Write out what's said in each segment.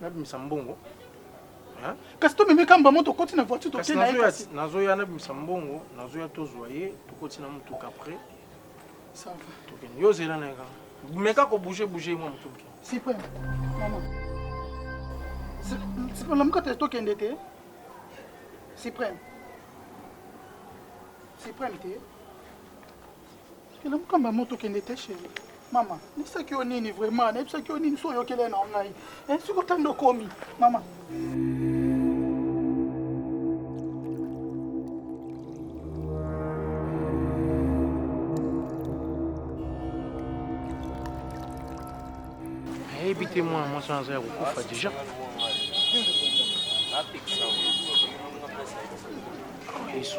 nabimisa mbongo hein? kasi tomemi kamba mo tokoti na voiture tokei na ye kasi nazoya nabimisa mbongo nazoya tozwa ye tokoti na motuka après tokende yo ozela na ye kaka meka kobouge bouge ye mwa motu moke sipa sipa lamuka te tokende te sipreme sipreme te kende mokamba moto kende te sheri mama nayebisaki yo nini vraiment nayebisaki yo nini so oyokele na ngai eh, soki otanda okomi mama nayebi te mwana mwasi wana aza ya kokufa deja yesu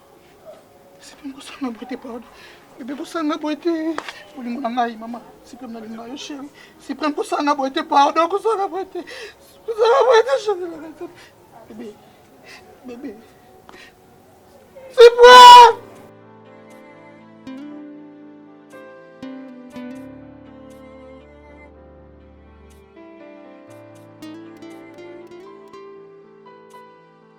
Sipem kosanga boye te pardon. Bebe kosanga boye te. Bolingo na ngai mama. Sipem nalinga yo chéri. Sipem kosanga boye te pardon kosanga boye te. Kosanga boye te chéri na ngai. Bebe. Bebe. Sipem.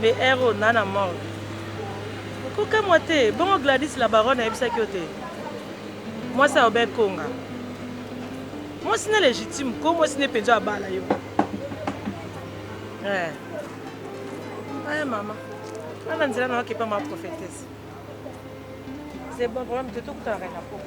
mais ere oyo na na morgue okokamwa te bongo gladis la baronne ayebisaki yo te mwasi ya obe konga Mwasi ne legitime ko mwasi ne penza abala yo. Eh. Aye mama. Ana nzela na wakepa ma prophétesse. C'est bon problème de tout que tu as rien à faire.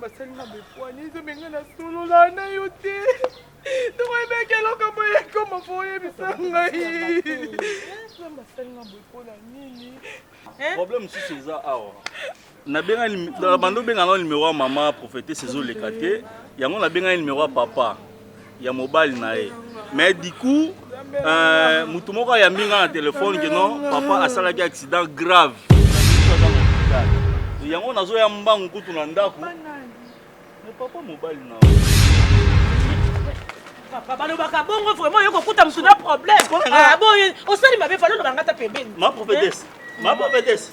basalinga bepoani nzambe ngai nasolola na yo te tokoyebaki eloko boye ekoma po oyebisa ngai nzambe asalinga boye mpona nini problème mosusu eza awa nabengani bando benga na numéro ya mama prophétesse ezoleka te yango nabengani numéro ya papa ya mobali na ye mais du coup euh, motu moko ayambi ngai na telefone ke non papa asalaki accident grave yango nazoya mbangu kutu na ndako mais papa mobali na papa balobaka bongo vraiment yo kokuta motu na problème ah, boye osali mabe falo lobanga ta pembeni ma prophétesse ma prophétesse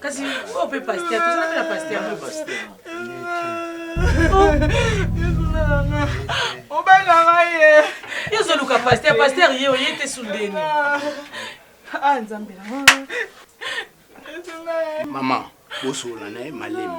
Kasi oyo mpe pasteur, tozala mpe na pasteur. obengaka ye yo ozoluka pasteur pasteur ye oye te sundeni ah, ah, nzambe mama bosola na ye malemi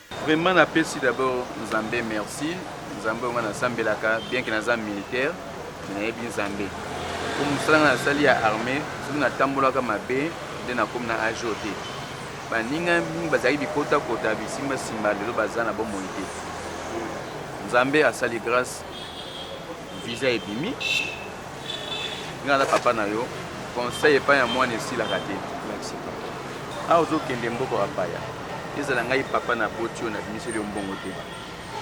Vraiment na pesi d'abord Nzambe merci. Nzambe oyo nga nasambelaka bien que naza militaire mais nayebi Nzambe. Mpo mosala nga nasali ya armée soki natambolaka mabe nde nakomi na age oyo te. Baninga mingi bazalaki bikotakota bisimbasimba lelo baza na bomoi te. Nzambe asali grâce visa ebimi nga na papa na yo conseil epai ya mwana esilaka te awa ozokende mboko ya paya ezala ngai papa na boti oyo nabimiseli yo mbongo te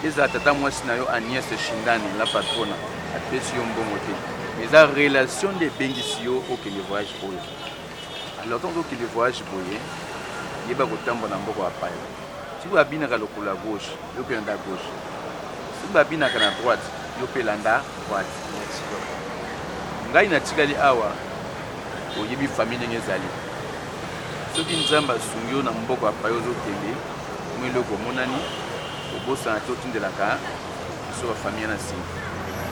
ezala tata mwasi na yo agnes shindani la patrona apesi yo mbongo te eza relation nde ebengisi yo okende voyage oyo alors ntango okende voyage boye yeba kotambola na mboko ya paya sikoyo abinaka lokolo ya gauche yo mpe landa gauche soki babinaka na droite yo mpe landa droite ngai natikali awa oyebi famille ndenge ezali soki nzambe asungi yo na mboko ya paye ozokende mo eloko omonani obosana te otindelaka biso bafamille na nsima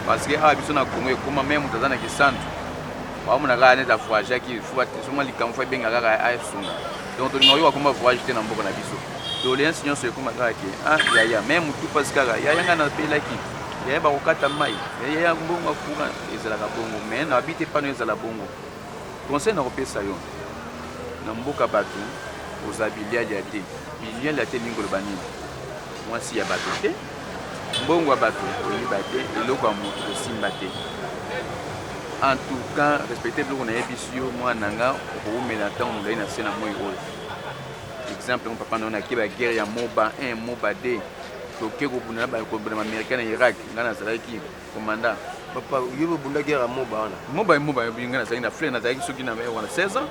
parce que awa biso na kongo ekoma me moto aza na kisantu baomonaka neti avoyagaki fo batesoma likambo fo ebenga kaka asunga donc tolinga oyo akoma voyage te na mboka na biso doleance nyonso ekoma kaka ke ah yaya me motu mpasi kaka yaya ngai napelaki yaya bakokata mai yaya mbongo akura ezalaka bongo me nabi te pano ezala bongo conseil nakopesa yo na mboka bato oza bilialia te bilialia te elingi koloba nini mwasi ya bato te Mbongo ya batu koyiba te, eloko ya mutu kosimba te. En tout cas, respecter biloko nayebisi yo mwana na nga, okowumela ntango molai na se na moi oyo. Exemple yango papa na yo nake ba guerre ya Moba 1, Moba 2, toke kobunda na bamericain na Irak, nga nazalaki Commandant. Papa, yo bobunda guerre ya moba wana. Moba moba yo binga na na fleur na zaki soki na mewa na 16 ans.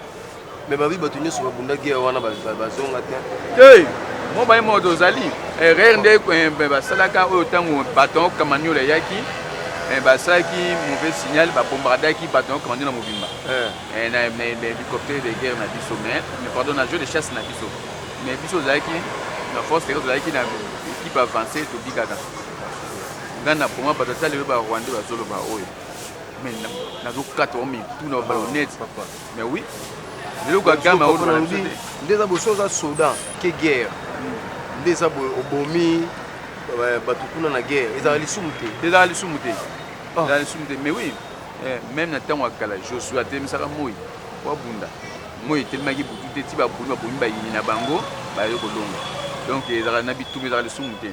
Mais babi bato nyonso babunda guerre wana bazonga te. Hey! Moba moba tozali. Erreur nde eh, basalaka oyo ntango baton kamaniola eyaki eh, basalaki mauvais signal babombardaki baton kamaniola mobimba eh. na hélicoptère de guerre na biso mais pardon na jeu de chasse na biso mais biso ozalaki na force tozalaki na équipe avancée tobikaka nga na boma bato ata lelo ba rwandais bazoloba oyo mais nazokata o mitu na balonete mais oui lelo kagame aolobi nde eza boso oza soda ke guerre nde eza obomi bato kuna na guerre ezala lisumu te ezala lisumu te ah. ezala lisumu te mais oui eh, même na ntango ya kala josue atelemisaka moi po abunda moi etelemaki butu te ti babuni babomi bayini na bango baye kolonga donc ezalaka na bituba ezalaka lisumu te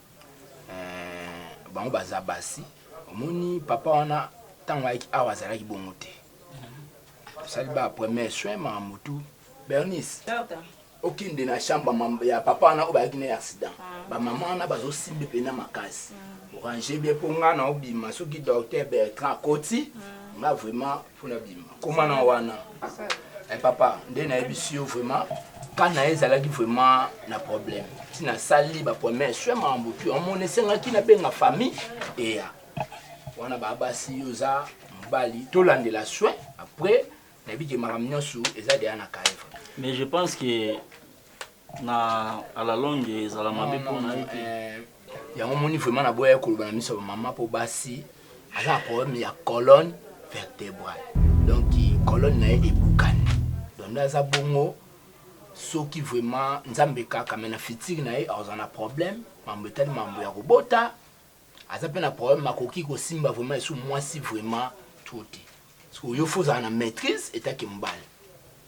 Eh, bango baza basi omoni papa wana ntango ayaki awa azalaki bongo te tosali ba premier soin ma motu bernice okende na chambre ya papa wana oyo bayaki na accident ah. bamama wana bazosimbi mpena makasi mm. orange bie mpo ngai naobima soki docteur bertrand akoti mm. nga vraiment mpona bima koma na wana eh, papa nde nayebisi yo vraiment ka na ye ezalaki vraiment na problème ti nasali bapremière sue makambo tu omona esengaki nabenga famille eya wana babasi yo oza mobali tolandela sue après nayebi ke makambo nyonso eza deya na kaeva mais je pense que na à la longue ezala mabe mpo na ye te yango moni vraiment naboyaki koloba na miso ya bamama mpo basi aza na problème ya colonne vertébrale donc colonne na ye ebukani donc nde aza bongo soki vraiment nzambe kaka me na fitiri na ye azala na problème mambo etali mambo ya kobota Aza pe na problème akoki ko simba vraiment esu mwasi vraiment trop te. Siko yo faut ozala na maîtrise etant que mobali.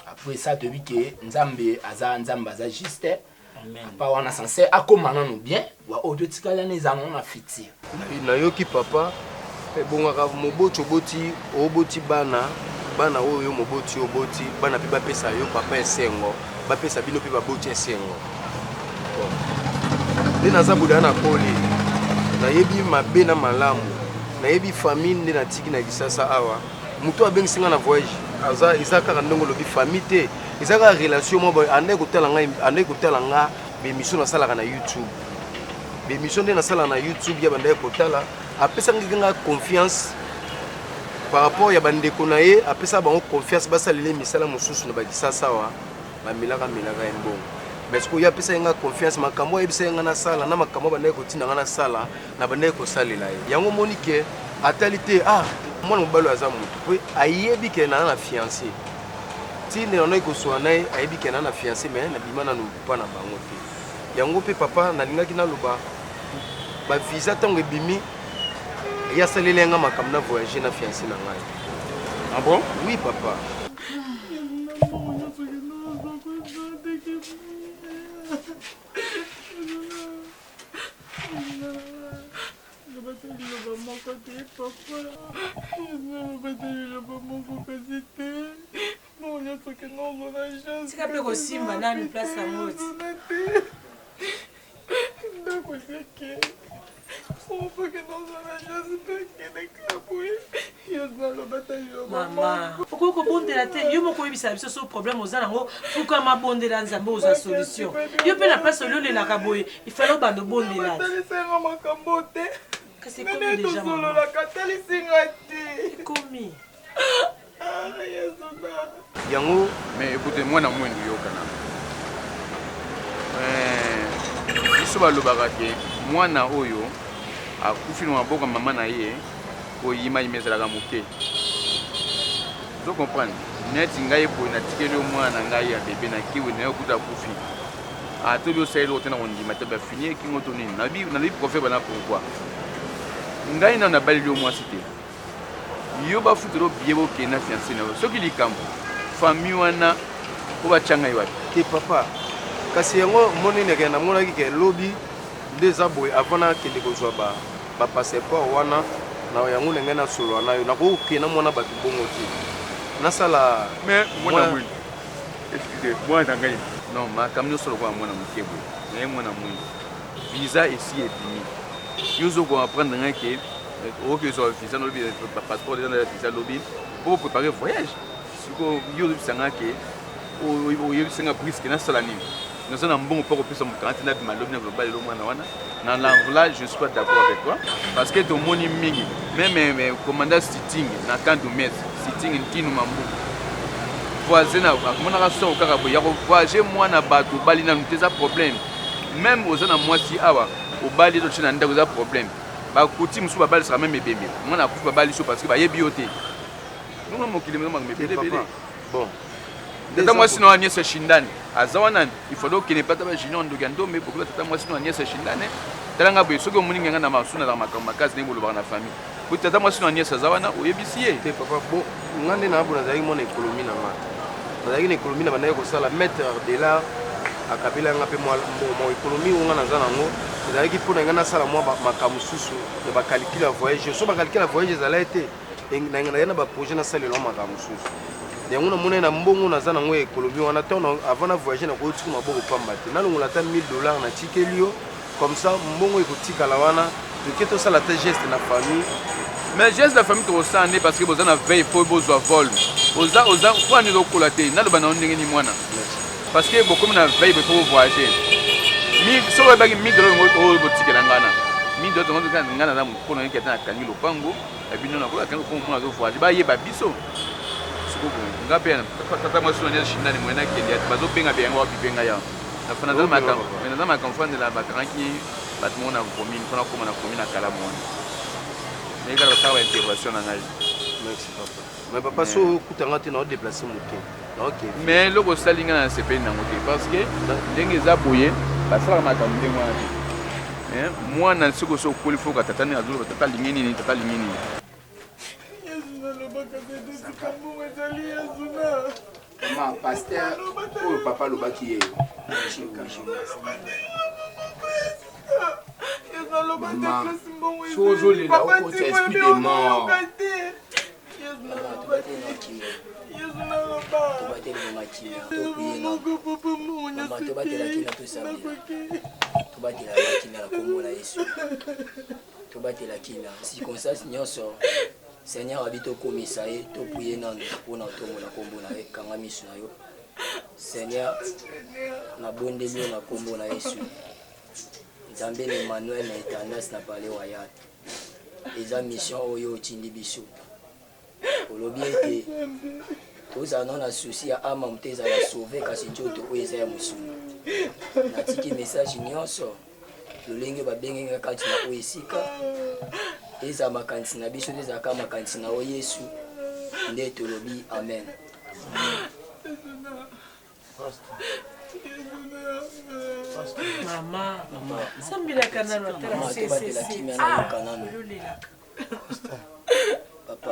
Après ça toyebi que Nzambe aza Nzambe aza juste. Papa wana sincère akoma nanu bien. Wa oyo totikali wana eza nango na futur. Nayoki papa ebongaka moboti oboti oboti bana bana oyo yo moboti oboti bana pe bapesa yo papa esengo. bapesa bino mpe baboti esengo nde naza boda na koli nayebi mabe na malamu nayebi famille nde natiki na lisasa awa moto abengisi ngai na voyage aza eza kaka ndenge olobi famille te eza kaka relation moko andaki kotala ngai andaki kotala nga bemission nasalaka na youtube bemission nde nasalaka na youtube ya bandaki kotala apesaki ngai confiance par rapport ya bandeko na ye apesa bango confiance basalela ye misala mosusu na bakisasa awa bamelaka melaka ya mbongo mais sikoyo ye apesaki ngai confiance makambo ayebisaki ngai nasala na makambo abandaki kotinda ngai nasala na bandaki kosalela ye yango omoni ke atali te ah mwana mobali aza motu mpe ayebi ke naa na fiance ntina yanaki koswana na ye ayebi ke naa na fiance mais nabima nanu mpa na bango te yango mpe papa nalingaki naloba bavisa ntango ebimi ya saleli yanga makambo na voyage na fiancé na ngai ah bon oui papa papa tika mpe kosimba nanu place na moti ndako ezeke ofake nazala jasi mpe akende kaboye mama okoki kobondela te yo moko oyebisa biso so problème oza nango fukama bondela nzambe ozwa solution yo mpe na place ololelaka boye ifale obanda obondela kasi ekomi deja ekomi yango mais écoute mwana mwendu yokana eh, biso balobaka ke mwana oyo akufi na maboko mama na ye koyimayima ezalaka moke ozo comprendre neti ngai boye natikeli yo mwana na ngai ya bebe na kiwi na yo kuta akufi atobi ah, osaleli ote na kondima te bafini ekingo to nini nalobi profe bana pourkui ngai nano nabaleli yo mwasi te yo bafutela obie bokende na fianse na yo soki likambo fami wana po batya ngai wapi te papa kasi yango monene ke namonaki ke lobi nde eza boye avant nakende kozwa bapasseport ba wana na yango na ngai nasolola na yo nakoki kokenda mwana bato bongo te nasala mwana ngai non makambo nyonso lokola mwana moke boye naye mwana mwindu visa esi ebimi yo ozokoapprendre ngai ke okoki ozwa visa nalobi passeport eza na visa lobi po prépare voyage siko yo oyebisa nga ke oyebisa nga briske nasala nini naza na mbongo mpo kopesa moto wana te nabima lobi na global elo mwana wana na lanvla je suis pas d'accord avec toi parce que tomoni mingi meme commanda sitting na kandu mes sitting ntinu mambu voisin amonaka soko kaka boye ya kovoyage mwana bato obali nanu te eza problème meme oza na mwasi awa obali ezotie na ndako eza problème ba kuti musu ba balisaka meme ebembe mwana akufi ba balisi yo parce que ba yebi yo te nunga mokili mema mebele bele bon tata mwasi na wana niese shindane aza wana il faut donc kene pata ba junior ndoki ya ndombe bokola tata mwasi na wana niese shindane tala nga boye soki omoni nga na masuna na makambo makasi ndenge bolobaka na famille po tata mwasi na wana niese aza wana oyebisi ye te papa bon nga nde naabo nazalaki mwana ekolomi na nga nazalaki na ekolomi na bandaki kosala maître de l'art akabela nga mpe mwa ekolomi oyo nga naza nango ezalaki mpo na ngai nasala mwa makambo mosusu ya bakalikile ya voyage so bakalikile ya voyage ezalaki te naye na baprojet nasalelao makambo mosusu yango namonai na mbongo naza nango ya ekolomi wana ntango avant na voyage nakoki tika maboko pamba te nalongola ata 1000 dollars natikeli yo comme ça mbongo ekotikala wana toke tosala te geste na famille mais geste na famille tokosala nde parce que boza na veille mpo bozwa vol oza oza mpo ani ezokola te naloba na yo ndenge ni mwana parce que bokomi na veille bopo bovoyage soki oyebaki mille dola oyo botikela ngana mille dola tongo tokaa ngana na mokolo nayeki ata nakangi lopango ya bino nakoki akangi lopango mpo nazovoyage bayeba biso sikoyo nga mpe tata mwasi na nde shinani moyenakende bazobenga biango wapi mpe ngai yango naza maka ofandela bakangaki bato moko na commune mpona koma na commune na kala mwana nayekaka kosala ba intervention na ngai mais papa so okutanga te na odeplace moke mais eloko osali ngai na sepeli nango te parce que ndenge eza boye basalaka makambo ndenge wana te mwana soki osi okoli foka tata nini azoloba tata alingi nini tata alingi nini yesu nalobaka te te likambo ezali yesu na Maman, pasteur, oyo oh, papa alobaki ye. Maman, soki ozolela okota esprit de mort. tobatela kina na kombo na yesu tobatela kina circonstance nyonso Seigneur abi tokumisa ye topuye nanu mpo na ntongo na nkombo na ye kanga miso na yo Seigneur nabondeli yo na nkombo na Yesu Nzambe na Emmanuel na etandas na pale wayal eza mission oyo otindi biso olobi ete tozala no na souci ya ama moto ezala sauve kasi nzoto oyo eza ya mosuni natiki message nyonso lolenge babengi nga kati na oyo esika eza makanisi na biso ezalaka makanisi na oyo yesu nde tolobi amen mama sambelaka nano atalaobatelaka kimia nayoka nano papa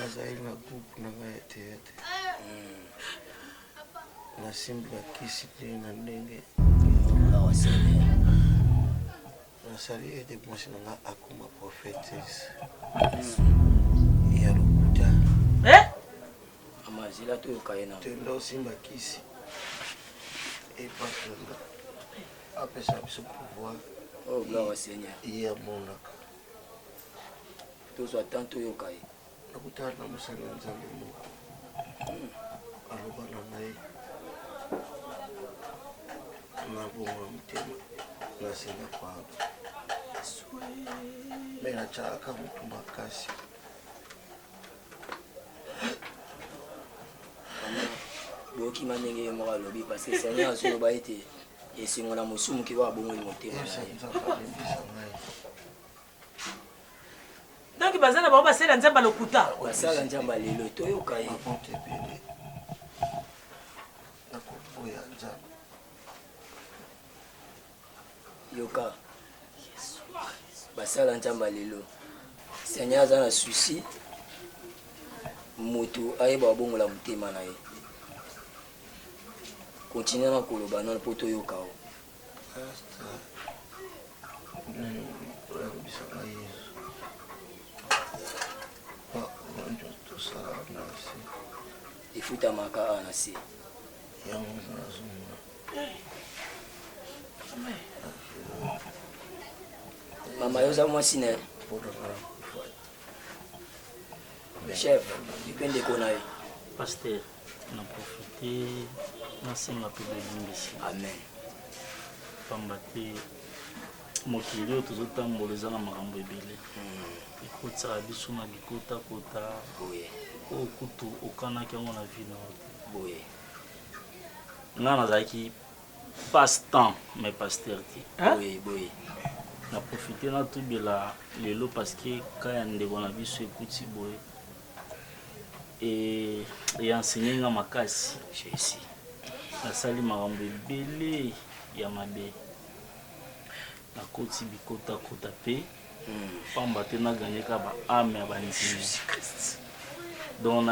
nazali na groupe na ngai ya teyate hmm. nasimbi bakisi te na ndenge nasali ete mwasi na ngai akoma prophetes ya lokuta eh? amazila toyoka ye na tenda osimba kisi epatana apesa biso pouvoir oh, ye amonaka tozwa temps toyoka ye nakutana na mosali ya nzambe moko aloba na ngai na bongo motema nasenga pardon me natyalaka motu makasi bokima ndenge ye moko alobi parce que seigneur azoloba ete esengo na mosumu ki wa bongo motema donc baza na bango basala nzambe lokuta basala nzambe lelo toyoka ye yoka basala nzambe lelo seigneur aza na susi moto ayeba abongola motema na ye Continue na koloba nano mpo toyoka yo. efutamaka awa na se mama yo oza mwasi na ye chef mpe ndeko na ye na profite nasenga mpe bolimbisi amen mpamba te mokili oyo tozotambola eza na makambo ebele hmm. ekotisaka biso na bikotakota oyo kutu okanaki yango na vi na te boye ngai nazalaki passe temps mais pasteur te boye na profite natubela lelo parce que ka ya ndeko na biso ekuti boye e enseigner nga makasi Chelsea nasali makambo ebele ya mabe nakoti bikotakota mpe mpamba te naganyeka ba ame ya bandimi donc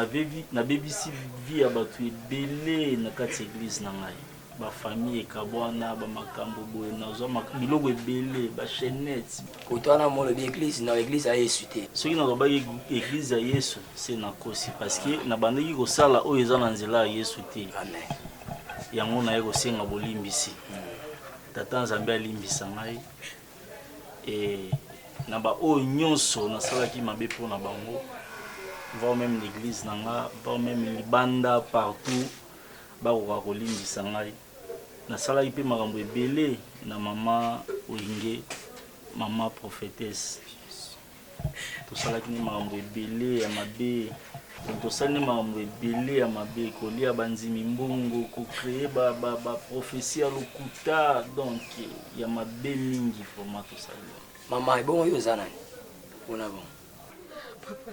nabebisi vie ya bato ebele na kati ya eglize na ngai ba famille ekabwana ba makambo boye nazwa biloko ebele ba chaînette koto wana molobi eglise na eglise ya yesu te soki nalobaki eglise ya yesu se nakosi parce que nabandaki kosala oyo eza na nzela ya yesu te amen yango naye kosenga bolimbisi hmm. tata nzambe alimbisa ngai e na baoyo nyonso nasalaki mabe mpo na bango voir même l'église na nga voir même libanda partout Bakoka kolimbisa ngai. Nasalaki mpe makambo ebele na mama Wenge, mama prophetesse. Tosalaki nde makambo ebele ya mabe. Tosali nde makambo ebele ya mabe, kolia bandimi mbongo, kocree baprophesie ya lokuta, donc ya mabe mingi vraiment tosali. Mama, ebongo yo oza nani? Pona bongo. Papa.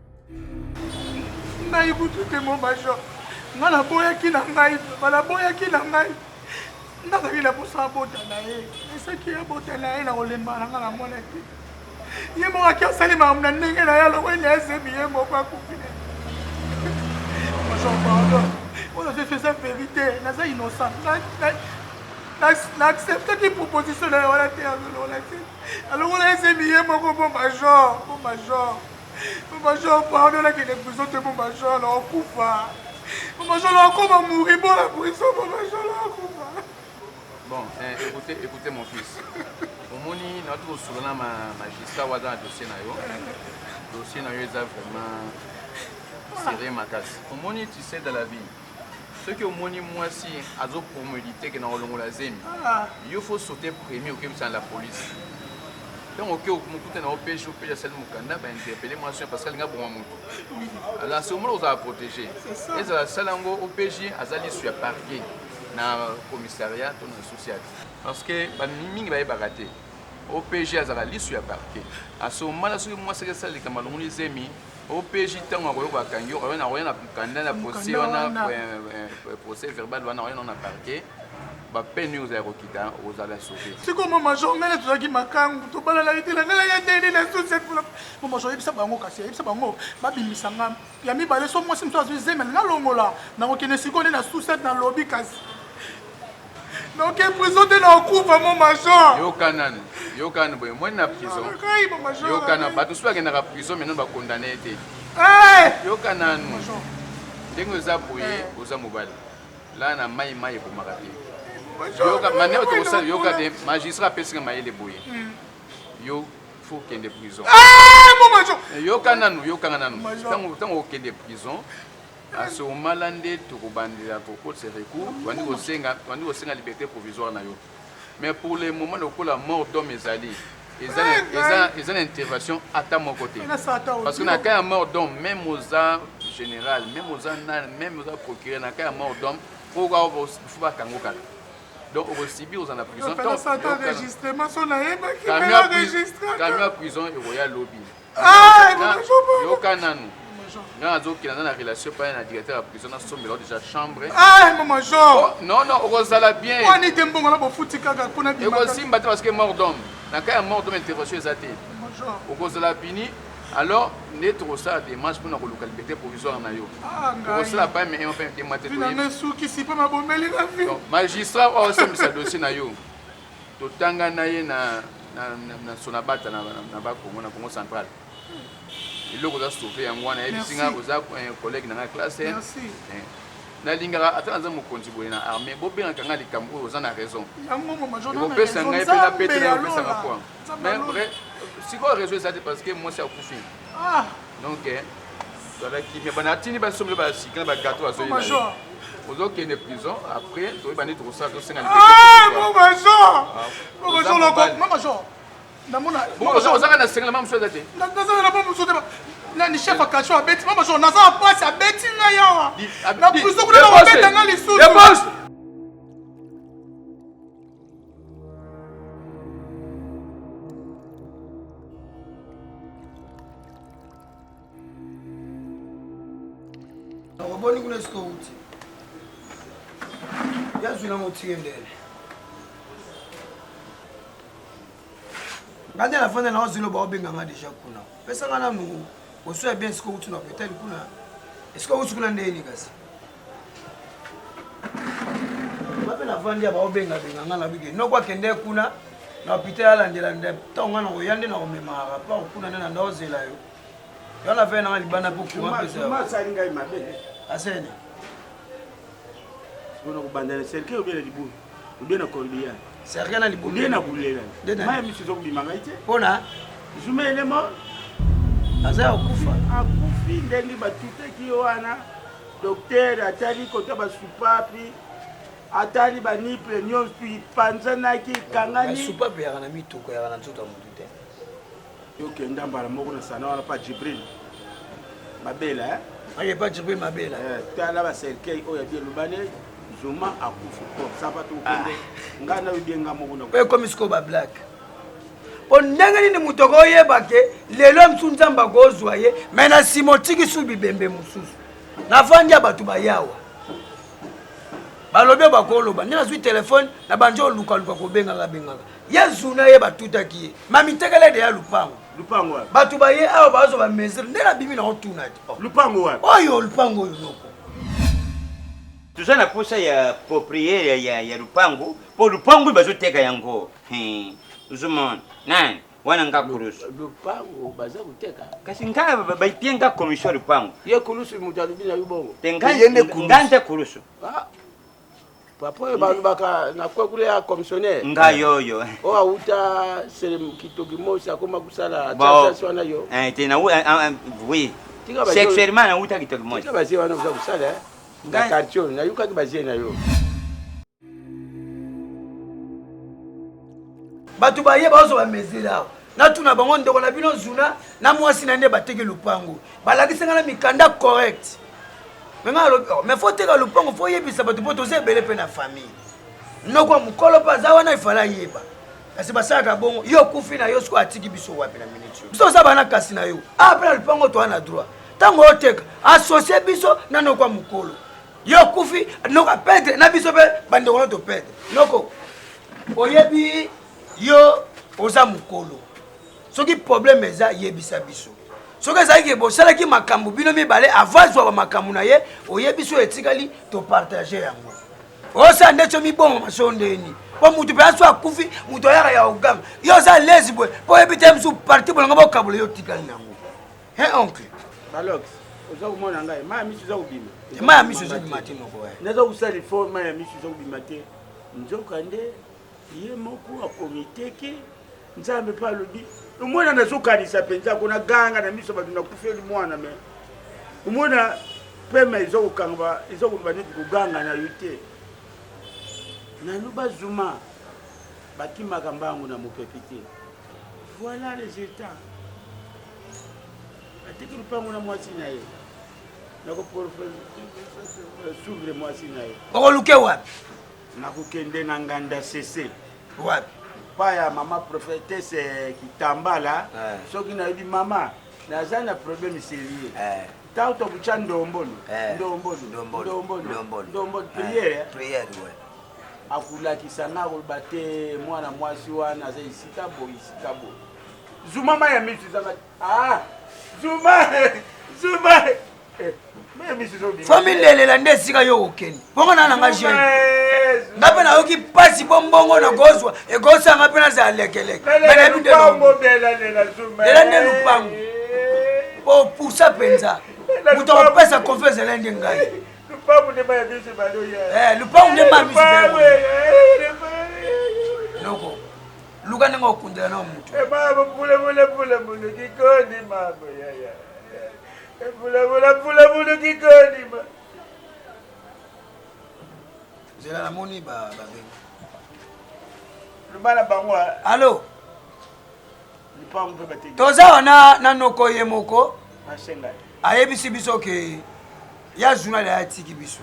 ngai kutu te mo major nga naboyaki na ngai papa naboyaki na ngai nazalaki na mposa abota na ye esaki abota na ye na kolemba na nga na mwana te ye moko aki asali makambo na ndenge na ye alokweli ayebi ye moko akufi na major pardon oyo fefe eza verité naza innocent na acceptaki proposition na ye wana te alongola te alongola ezebi ye moko bo major bo major Papa Jean pardon na kende prison te papa Jean na okufa. Papa Jean na okoma mouri bon la prison papa Jean na okufa. Bon, eh, écoutez, écoutez mon fils. Omoni na tu osolo na ma magistrat waza na dossier na yo. Dossier na yo eza vraiment serré makasi. Omoni tu sais dans la vie. soki omoni mwasi azo promedite ke na kolongola zemi ah. yo fo saute premier okebisa na la police ntango oke mokuta na yo pg pg asali mokanda bainterpele mwasi parce alinga boma motu ala sekomona kozala protege ezala asala yango opg aza lisu ya parquet na commissariat to na sociale parce que mingi bayebaka te opg azalaka lisu ya parquet asekomana soki mwasi akesala likambo alongoli zemi OPJ ntango akoyoka akangi yo oyo nakoya na mokanda na procès wana procès verbal wana oyo na parquet bapene yo ozala kokita ozala sauve sikoyo mama jo ngai na tozalaki makangu tobalalaki te ngai naya ndeni na suset mama jo yebisa bango kasi yebisa bango babimisa nga ya mibale so mwasi mosusu azwi zeme nalongola nakokende sikoyo nde na suset nalobi kasi Noke prison te na okufa mo major. Yoka nanu. Yoka nanu boye moni na prison. Yoka na bato soki bakendaka prison maintenant ba condamner ye te. Eh! Yoka nanu. Ndenge oza boye eh. oza mobali. La na mai mai ekomaka te. Yoka mane otokosala yoka te magistrat apesi nga mayele boye. Hmm. Yo faut kende prison. Eh, eh yoka nanu yoka nanu. Tango tango okende prison À ce moment là nde tokobandela kokotisa recours tobandi kosenga tobandi kosenga liberté provisoire na yo mais pour le moment lokola mort d'homme ezali eza na intervention ata moko te parce que na cas ya mort d'homme même oza général même oza nani même oza procureur na cas ya mort d'homme po faut bakango kala donc okosibi ozala na prison camion ya prison ekoya lobi Ah, yoka nanu nga nazokila nga na relation epai na directeur ya prison nasombela deja chambre ah, oh, non non okozala bien ekosimba te parce que mort d'homme na cas ya mort d'homme intervention eza te okozala bini alors nde tokosala démarche mpona koluka liberté provisoire na yo okosala pa me mpe motema te magistrat oyo asambisa dossier na yo Totanga na ye na na na sonabata na na ba Congo na Congo central eloko oza sauve yango wana yebisi nga oza eh, collègue na nga classe eh. eh. nalingaka ata naza mokonzi boye na armée bobengaka nga likambo oyo oza na raison ekopesa ngai mpe napetela yopesaka poa mais vrai sikoyo raison eza te parce que mwasi akufi ah. donc eh, zala kimia bana atindi basombele basika na bagato azoyi na ye ozokende prison après toyeba nde tokosala tosenga ozaka na sengela mamosu eza te nani chef ya kasho abeti mama jo naza na pasi abeti ngai awa na prison kuna babeta ngai lisusu oboni kuna esika outi yazwi nango otike ndele nga nde nafanda nao zelo baobenga nga deja kuna pesa nga nanu oso ya bien esika outi na hôpital kuna esika outi kuna ndeni kasi bape navandi ya baobengabenga ngai na bike noko akende kuna na hôpital alandela nde ntango ngai nakoya nde nakomema rapport kuna nde na ndaozela yo yo na vei nanga libanda mpo courant pesaasali ngai mabe asene sikoyo nakobanda na cercueil obele libulu obe na cordia serge na libumu nde na bulela maya misu ezo kobima ngai te mpo na zuma elemo aza ya kokufa akufi ndenge batutaki ye wana doktere atali kota basupapi atali baniple nyonso ipanzanaki ekangani basupapi yaka na mituka yaka na nzoto ya motu te Yo kenda mbala moko na sana wana pa Jibril. Mabela eh. Aye pa Jibril Mabela. Eh, tala ba cercueil oyo ya Bielubane Zuma akufi po sapa to kende. Ah. Nga na bienga moko na. Pe comme siko ba black. Po ndenge nini moto akoyeba ke lelo mosusu nzambe akozwa ye me na nsima otiki su bibembe mosusu navandi ya bato bayawa balobi bakoloba nde nazwi telefone na banjo olukaluka kobengaka bengaka ye zuna ye batutaki ye mamitekele deya lupango lupango wapi bato baye awa bazo ba mesure nde nabimi na otuna te oh. lupango wapi oyo lupango oyo noko toza na posa ya propriere ya, ya lupango mpo lupango bazoteka yango ozomona nani wana nga kulusu lupango baza koteka kasi nga bapie nga commission lupango ye kulusu moto alobi na yo bongo te nga nde kulusu ah. papa oyo balobaka na kwekule ya commissionnaire ngai oyo oyo oh, awuta kitoki mosi akoma kosala tss wana yo eh, te na eh, ah, ah, oui sexuellement nawuta kitoki mosi bazie wana oza kosala eh? na quartier oyo nayokaki bazie na yo bato baye bazwa bamesure awa natuna bango ndeko na bino zuna na mwasi na nde bateki lopango balakisanga na mikanda correct me ngai alobi oh, me fo teka lopango fo yebisa bato mpo toza ebele mpe na famille noko ya mokolo mpe aza wana efala ayeba kasi basalaka bongo yo okufi na yo sikoyo atiki biso wapi na miniti biso oza bana kasi na yo awa ah, mpe na lopango toa na droit ntango oteka asosie biso na noko ya mokolo yo okufi noko apedre na biso mpe bandeko no topedre noko oyebi yo oza mokolo soki problème eza yebisa biso soki ezali ke bosalaki makambo bino mibale ava azwa bamakambo na ye oyebi so etikali topartage yango osala nde so mibongo maso ndeni mpo moto mpe aso akufi moto ayaka ya oganga yo oza lezi boye mpo oyebi te mosusu parti bolongo bokabola yo otikali nango he oncle balox oza komona ngai maya miso eza kobima maya miso eza kobima te noko naza kosala efort maya miso eza kobima te nzoka nde ye moko akomiteke nzambe mpe alobi omona nazokanisa mpenza kona ganga na miso bato nakufeli mwana me omona pema eza kokanga eza koloba neti koganga na yo te nanu bazuma bakimaka mbangu na mopepe te voilà résultat atiki lupango na mwasi na ye nakosuvre mwasi na ye okoluke wapi Nakokende na nganda sese. Wapi? Epai ya mama prophetese Kitambala. Eh. Soki nayebi mama, naza na problème serieux. Eh. Ntango tokutya ndombolo, eh. ndombolo, ndombolo, ndombolo, prière. Prière, ouais. akolakisa nga akoloba te mwana mwasi wana aza esika boye esika boye zuma mai ya misu ezanga ah zuma zuma famille lelela nde esika yo okende bongo na nanga jeune nga mpe nayoki mpasi mpo mbongo nakozwa ekosanga mpe nazala lekeleke nayebi nde lela nde lupango mpo opusa mpenza moto akopesa konfi ezala nde ngai lupango nde ma biso noko luka ndenge okundela na moto nzela namoni babengi loba na bango alo toza wana na noko ye moko ayebisi biso ke ya journal ya atiki biso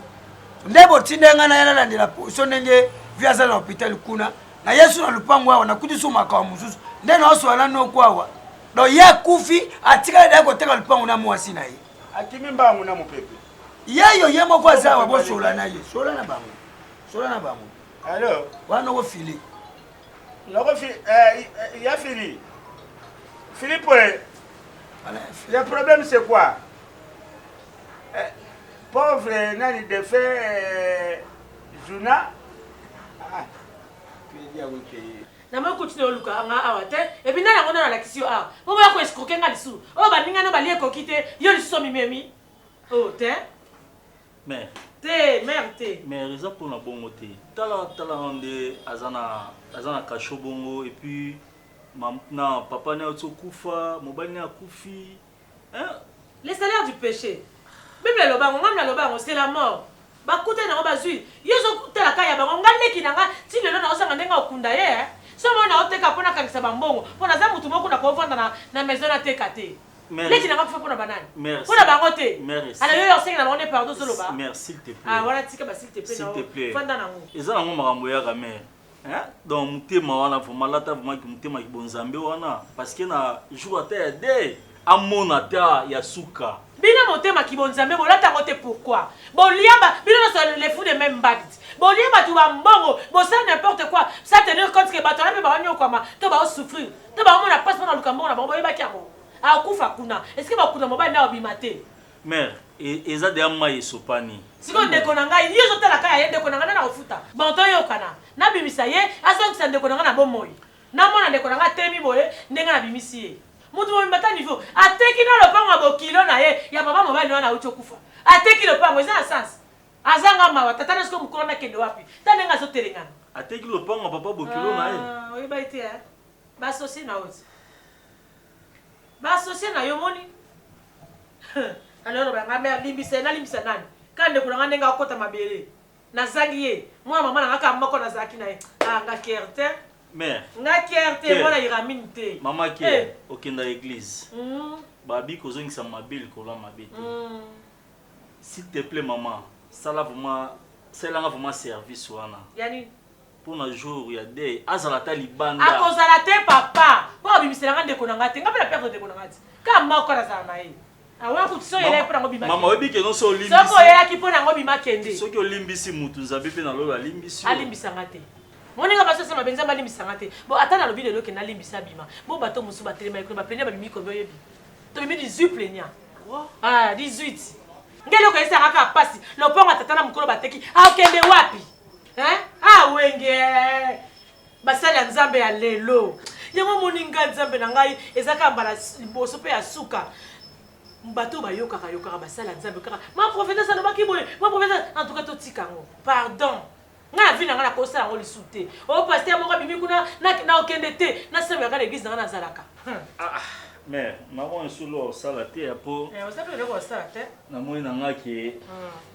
nde botinda ngai naya nalandela poso ndenge vi aza na hôpital kuna na yesu na lopango awa nakuti so makambo mosusu nde naosola na noko awa donc ye akufi atikali naye koteka lupangu na mwasi na ye akimi mbangu na mopepe yeyo ye moko aza awa bosola na ye sola na bango sola na bango alors wana okofili nakofi eh, eh, ya fili filipo eh, le problème c'est quoi eh, pauvre nani defe eh, juna ah, Na moi continue oluka nga awa te et puis nani yango nani alakisi yo awa po boya ko escroquer nga lisusu oyo baninga no balie ekoki te yo lisusu omimemi oh te Mère, te mère te mère eza mpo na bongo te. Tala tala na nde aza na aza na cachot bongo et puis mam- na papa na ye auti okufa, mobali na ye akufi. Hein? Le salaire du péché. Bible eloba yango, ngai naloba yango, c'est la mort. Bakutani na yango bazui. Yo ozotala ka ya bango, ngai leki na ngai ti lelo naozanga ndenge okunda ye. Eh? Somo oyo naoteka mpo nakangisa bambongo, mpo naza motu moko nakovanda na, na maison nateka te. Mère, leki na ngai kufa mpo na banani? Mère, mpo na bango te. Mère, ala yo osengi na bango nde pardon ozoloba. Mère, s'il te plaît. Ah, wana tika ba s'il te plaît. S'il te plaît. Fanda na yango. Eza na yango makambo yaka mère. Hein? Donc mutema wana vraiment lata vraiment ki mutema ki bonzambe wana parce que na jour ata ya de amona ata ya suka. Bino motema ki bonzambe bolata ngo te pourquoi? Bolia ba bino na le fou de même mbadit. Bolia batu ba mbongo, bosala n'importe quoi. Ça tenir compte que batu wana pe ba nyokwama to ba souffrir. To ba mona passe na luka mbongo na bango boyebaki yango. Akufa kuna. Est-ce que bakuna mobali na obima te? Mère, e, eza deja mai esopani. Sikoyo ndeko na ngai, yo ozotala kaka ye ndeko na ngai nani akofuta? Bon toyokana, nabimisa ye azongisa ndeko na ngai na bomoi. Namona ndeko na ngai atelemi boye ndenge nabimisi ye. Mutu mobimba ata niveau, ateki na lopango ya bokilo na ye ya papa mobali na wana awuti okufa. Ateki lopango, eza na sens? Azanga mawa, tata na ye sikoyo mukolo wana akende wapi? Tala ndenge azotelengana. Ateki lopango ya papa bokilo na ye? Ah, oyebaki te hein? Ba associer na yo ti. Ba associer na yo omoni? Alors ba nga mère limbisa ye, nalimbisa nani? Kaka ndeko na nga ndenge akota mabele. Nazangi ye. Mwana mama na nga kaka moko nazalaki na ye. Ah nga care te. Mère. Nga care te, mwana Iramine te. Mama care, eh. okenda eglise. Mm. Babi kozongisa mabe likolo ya mabe te. Mm. S'il te plaît maman, sala vraiment, salanga vraiment service wana. Yani pona jour ya deuil azala ata libanda akozala te papa po abimisela nga ndeko na nga te nga mpe na perdre ndeko na nga ti kaka moko kaka nazala na ye mama oyebi ke noso olimbisi oyelaki mpo nango bima kende soki olimbisi mutu nzambe mpe na lola alimbisi alimbisa nga te moninga basi asema benza balimbisa nga te bo ata nalobi lelo kende alimbisa bima bo bato mosusu batelemaki kuna baplenia babimi kobi oyebi tobimi 18 plenia 18 nde eloko eyesaka kaka mpasi lopango ya tata na mokolo bateki akende wapi hein ah wenge basali ya nzambe ya lelo yango omoni ngai nzambe na ngai eza kaka mbala liboso mpe ya suka bato oyo bayokaka yokaka basala nzambe kaka ma profetese alobaki boye ma profetese en tout cas totika yango pardon ngai na vi na ngai nakosala yango lisusu te o oh, paster moko abimi kuna nakende te nasambelaka na eglise na ngai nazalaka hmm. ah, ah. mais maman esolo osala te ya po eh, namoni na ngai ke hmm.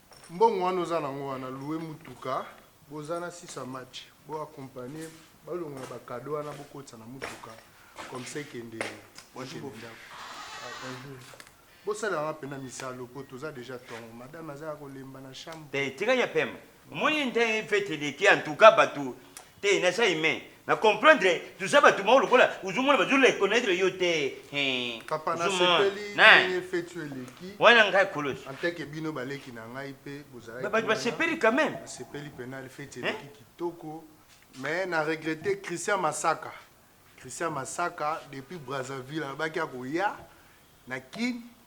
Mbongo wana oza nango wana loue mutuka boza na sisa match bo accompagner balongola ba cadeau wana bokotisa na mutuka comme ça ekende bokende ndako Ah, bonjour. bosalela nga mpena misala lokoto oza deja tongo madame aza ya kolemba na chambre te tika ya pema omoni ndenge fete eleki en tout cas bato te naza humain na comprendre toza bato moko lokola ozomona bazo reconnaitre yo te Hein, papa ozo mona. nasepeli Na- ndenge feti oyo eleki wana ngai kolos anteke bino baleki na ngai mpe bozalaki Ba- bato wana. basepeli quand même nasepeli mpena feti Hein? eleki kitoko mais na regrette christian masaka christian masaka depuis brazzaville alobaki akoya na kin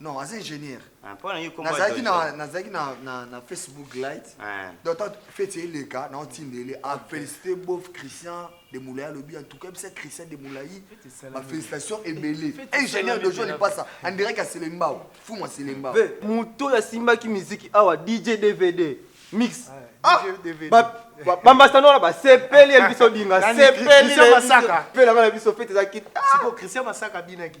Non, aza ingénieur. Ah, mpo na yo kombo ya Nazalaki Jojo. na nazalaki na na na Facebook light. Ah. Donc tant fete eleka na otindele a féliciter bof Christian de Moulay alobi en tout cas bisa Christian de Moulay. Ma félicitation ebele. Fete Ingénieur de esalami John mpela. Ipasa, on dirait qu'à Selembao, fou moi Selembao. Ve, moto oyo asimbaki miziki awa dj dvd mix Ah, DVD. ba- ba- bambasano wana basepeli ya biso dinga Nani? sepeli Christian Masaka? mpe nanga na biso fete eza kit Siko Christian Masaka abinaki.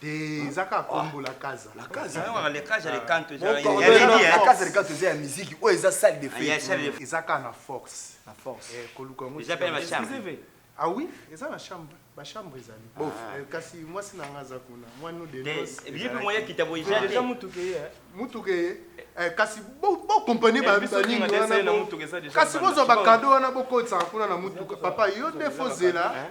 te eza kaka kombo la kaza la kaza wana le kaza le canto eza ya leli ya kaza le canto eza ya musique oyo eza salle de fête eza kaka na force na force eh koluka ngo eza pe na chambre ah oui eza na chambre ba chambre ezali bof eh, kasi mwasi na nga aza kuna mwanu de nos bibi moya kita boye eza mutu ke eh. mutu ke eh. Eh, kasi bokompane baningi wana kasi bozwa bakado wana bokotisaka kuna na motuka papa yo nde fozela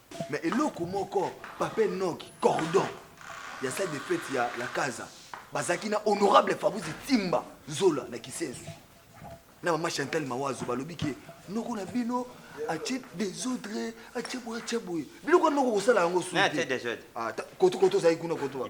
Mais eloko moko papa Enoch cordon ya salle de fete ya la casa bazalaki na honorable Fabrice Timba Zola na Kisensu na mama Chantal Mawazo balobi ke noko na bino atie desordre atie boye atie boye biloko yango okosala yango sukoto kozali kuna koto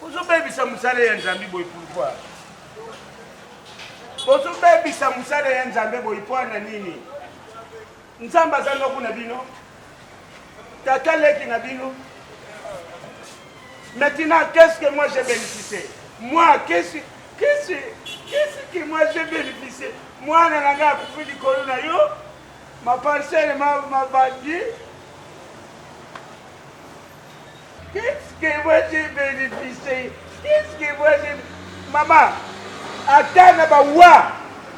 bozobebisa mosala ya nzambe boye pourkoi bozobebisa mosala ya nzambe boye mpo na nini nzambe aza noko na bino tata leki na bino maintenant qu'est-ce que moi j'ai bénéficié moi qu'est-ce qu'est-ce qu'est-ce que moi j'ai bénéficié mwana na ngai akufi likolo na yo maparcele mabandi ma Qu'est-ce que moi j'ai bénéficié? Qu'est-ce que moi j'ai Mama, ata na ba wa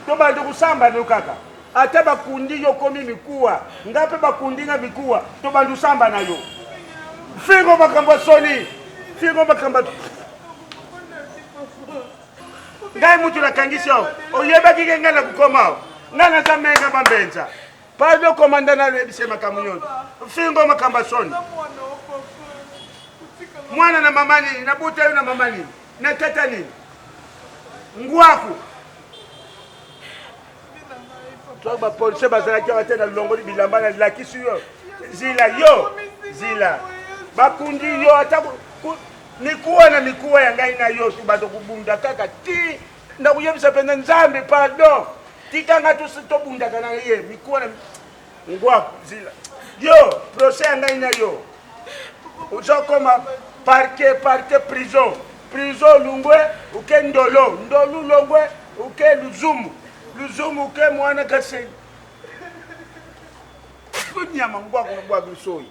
to bandi kusamba no kaka. Ata bakundi yo komi mikuwa, nga pe bakundi nga mikuwa, to bandi kusamba na yo. Fingo makambo soni, fingo makambo ngai mutu nakangisi yo oyebaki ke ngai nakukoma ngai naza menga bambenza Pardon komanda na lebise makambo nyonso. Fingo makambo ya soni. Mwana na mama nini? Nabuta yo na mama nini? Na tata nini? Ngwaku. Toi ba policier bazalaki awa te na longoli bilamba na lakisi yo. Zila yo. Zila. Bakundi yo ata mikuwa na mikuwa ya ngai na yo tu bato kubunda kaka ti Nakoyebisa pena Nzambe pardon. Tika nga tous tobundaka na ye mikuwa na ngwa zila. Yo procès ya ngai na yo ozokoma parke parke prison prison lungwe uke ndolo ndolu longwe uke luzumu luzumu uke mwana kasenyi kunyama ngwaku na bwaku soyi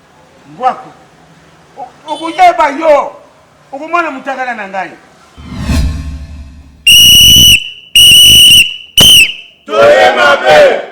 Ngwaku. Okoyeba yo. Okomona mutakala na ngai. Toye mabe.